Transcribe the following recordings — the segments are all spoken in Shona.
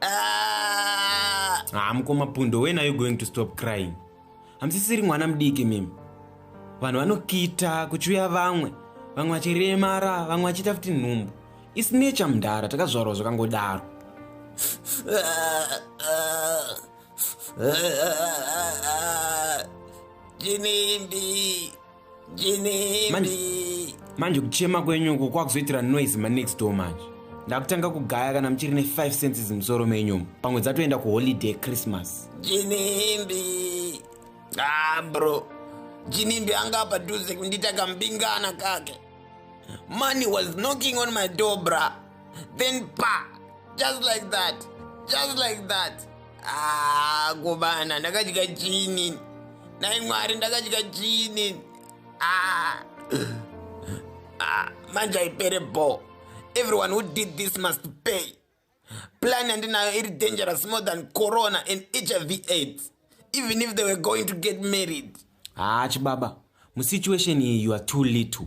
Ah. ah, mukoma pundo when are you going to stop crying hamusisiri mwana mudiki mimi vanhu vanokita kuchiuya vamwe vamwe vachiremara vamwe vachiita futi nhumbu isi nature mudhara takazvarwa zvakangodaro chinimbi manje manje kuchema kwenyu uko kwakuzoitira noise manext door manje ndakutanga kugaya kana muchiri ne5 senses musoro menyumo pamwe dzatoenda kuholiday christmas jinimbi ah bro jinimbi anga apa duze kundita kambingana kake money was knocking on my door bra then pa just like that just like that ah, kobana ndakadya chini nai mwari ndakadya chini ah. ah, manje aipere bo everyone who did this must pay plan yandinayo iri dangerous more than corona and hiv aids even if they were going to get married haa ah, chibaba musituation iyi you are too little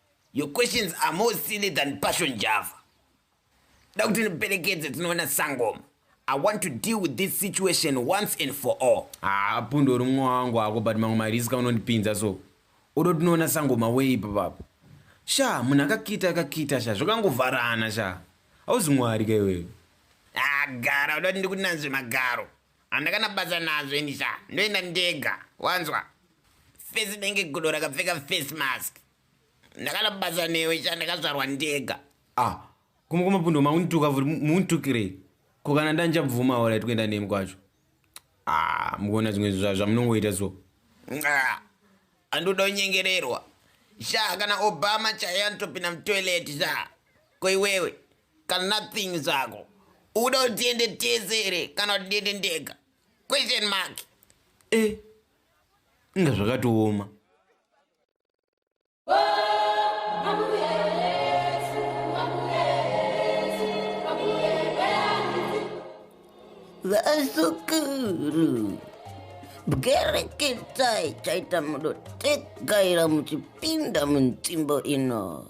Your questions are more silly than passion java. Da kuti ndiperekedze tinoona sangoma. I want to deal with this situation once and for all. Ah, pundo uri mwa wangu wako but mamwe mariska unondipinza so. Udo tinoona sangoma wei papapo. Sha, munhu akakita akakita sha, zvakangovharana sha. Hauzi mwari ka iwewe. Ah, gara uda kuti ndikunanzve magaro. Handakana basa nazvo ini sha. Ndoenda ndega. Wanzwa? Face denge gudo rakapfeka face mask. Ndakana basa newe sha ndakazvarwa ndega. Ah. Kuma kuma pundo maunituka vuri muuntukire. Ko kana ndanja bvuma ora itwenda nemi kwacho. Ah, mukona zvimwe zva zvamunongoita so. Ah. Andoda unyengererwa. Sha kana Obama chaya ntopina mtoilet sha. Ko iwewe kana nothing zvako uda kuti tiende tese here kana kuti ndiende ndega question mark e eh, inga zvakatooma vasukuru bwereketai chaita mudotegaira muchipinda munzvimbo ino